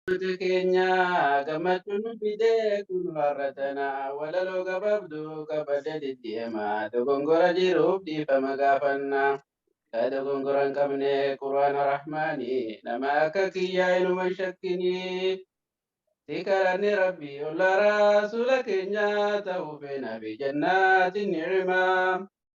Duuti keenya gammachuu nu fide kunu har'a tana walaloo gababdu qabadhe sitti hima dogongora jiruuf dhiifama gaafanna yaa dogongora hin qabne qur'aana rahmaani nama akka kiyyaa inuma hin shakkini si kadhanne rabbi olla rasuula keenya ta'uu feena fi jannaatin ni'imaa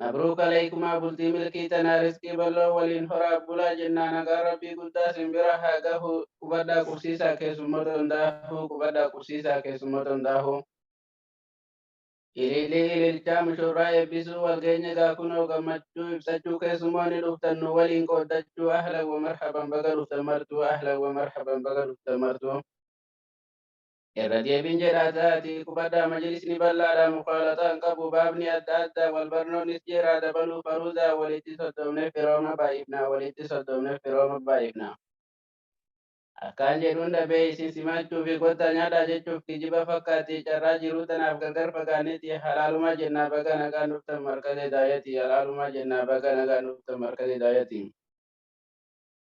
Mabruuk Aleeykumaa bultii milkii tanaa risqii balloo waliin horaa bulaa jennaa nagaan rabbii guddaa sin bira haa gahuu. Qubadhaa qubsiisaa keessummoota hundaafuu Qubadhaa qubsiisaa keessummoota hundaafuu. Ilillii ililchaa mushurraa eebbisuu wal geenye gaa kunoo gammachuu ibsachuu keessummoonni dhuftan nu waliin qooddachuu ahlan wa marhaban baga dhuftan martuu ahlan wa marhaban baga dhuftan martuu. Irra deebiin jedha taati. Qubadhaa majlisni bal'aadha mukhalaxaa hin qabu baabni adda addaa wal barnoonnis jeeraa dabaluu faruudaa walitti soddoomnee firooma baay'ifnaa walitti soddoomnee firooma baay'ifnaa. Akkaan jedhuun dhabee isin simaachuufi kottaa nyaadhaa jechuuf kijiba fakkaatti carraa jiruu tanaaf gargar fagaanneeti halaalumaa jennaa baga nagaan dhuftan markaza hidaayati halaalumaa jennaa baga nagaan dhuftan markaza hidaayati.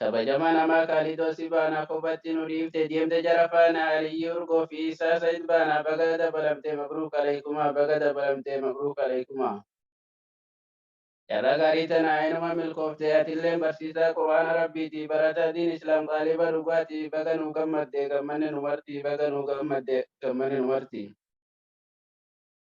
Kabajama namaa kaalidoo si baanaa kophatti nu dhiifte deemte jara faana aliyyii urgoo fi isaa said baanaa baga dabalamte mabruuk aleykumaa baga dabalamte mabruuk aleykumaa. Carraa gaarii tana inuma milkoofte atilleen barsiisaa qur'aana rabbiiti barataa diin islaam xaaliba dhugaati baga nuu gammadde gammanne nu marti baga nuu gammadde gammanne nu marti.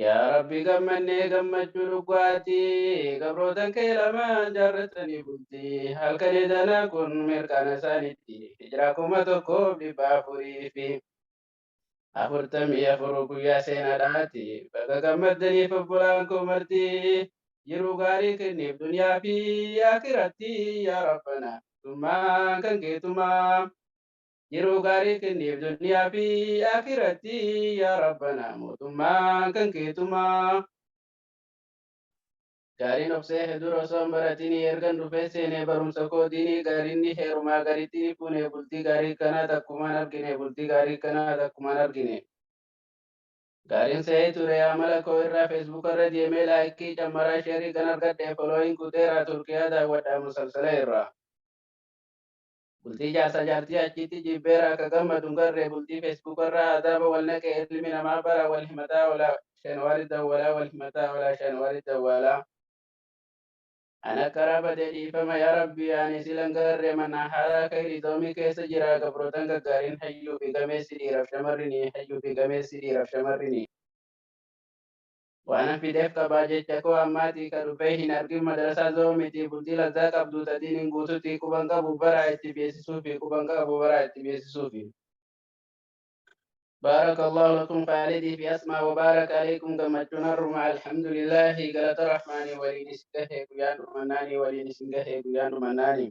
Yaa Rabbi gammannee gammachuu dhuggaati gabrootan kee lamaan jaarratanii bulti halkanii danaa kun mirqaana isaanitti hijraa kuma tokkoof dhibba afurii fi afurtamii afur guyyaa seenaadhaati baga gammaddaniif obbolaan koo marti jiruu gaarii kenniif duniyaa fi akiratti yaa rabbana tummaan kan keetumaa. Yeroo gaarii kenniif duniyaa fi akiratti yaa rabbanaa mootummaan kan keetumaa. Gaariin obsee hedur osoo hin baratinii ergan dhufee seenee barumsa koo diinii gaariin ni heerumaa garitti ni fuunee bultii gaarii kanaa takkumaan arginee bultii gaarii kanaa takkumaan arginee. Gaariin se'ee ture amala koo irraa Facebook irra deemee laayikkii cammaraa sheerii kan argadhe folooyin kuteeraa Turkiyaa daawwadhaa musalsala irraa. Bultii jaarsa jaartii achiitti jiibbeera akka gammadu hin garre bultii Facebook irraa adaaba wal naqe ilmi namaa bara wal himataa ola shan wari dawwalaa wal himataa ola shan wari dawwalaa. An akkara bade dhiifama yaa rabbii ani silan garre manaa haaraa kayri doomii keessa jiraa gabrootan gaggaarin hayyuu fi gameessi dhiiraf shamarrini hayyuu fi gameessi dhiiraf shamarrini. Waanan fideef qabaa jecha koo ammaatii ka dhufee hin argin madarasaa zoo mitii bultii lazzaa qabduu ta diinin guututii quban qabu baraa itti beesisuufi quban qabu baraa itti beesisuufi. Baarakallaahu lakum Khaalidii fi Asmaa wa baaraka aleykum gammachuun har'uma alhamdulillahi galata rahmaanii waliin isin gahee guyyaan dhumannaanii waliin isin gahee guyyaan dhumannaanii.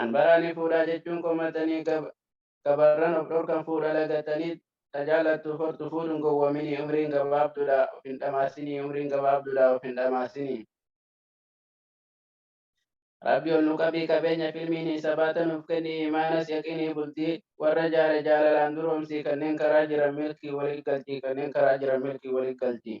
An baraani fuudhaa jechuun komattanii gabarran of dhorkan fuudha lagattanii ta jaallattuuf hortu fuudhun gowwoominii umriin gabaabdudha of hin dhamaasinii umriin gabaabdudha of hin dhamaasinii. Rabbi ol nu qabii qabeenya filmiini sabaata nuuf kenni iimaanas yaqiinii bultii warra jaare jaalalaan duroomsii kanneen karaa jiran milkii wali galchii kanneen karaa jiran milkii wali galchii.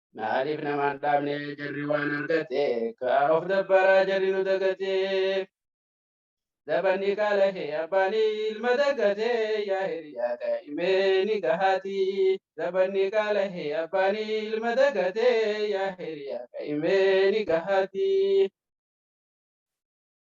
Maaliif namaan dhaabne jarri waan argate kaa of dabbaraa jarri nu dagate. Zabanni kaalahe abbaani ilma dagate yaa hiriyaa daa'imee ni gahaati. Zabanni kaalahe abbaani ilma dagate yaa hiriyaa daa'imee ni gahaati.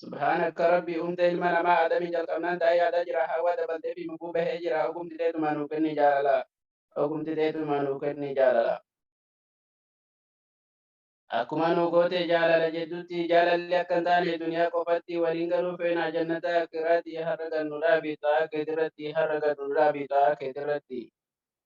Subhanakka rabbi umte ilma nama adami jalqabnan taa yada jira hawa dabaltefi lubu bahe jira ogumti tetuma nu kenni jalala ogumti tetuma nu kenni jalala akkuma nu gote jalala jeddutti jalalli akkan taane duniya qofatti walin galu feena jannata akirati harra gannu dhabi taa ketirati harra gannu dhabi taa ketirati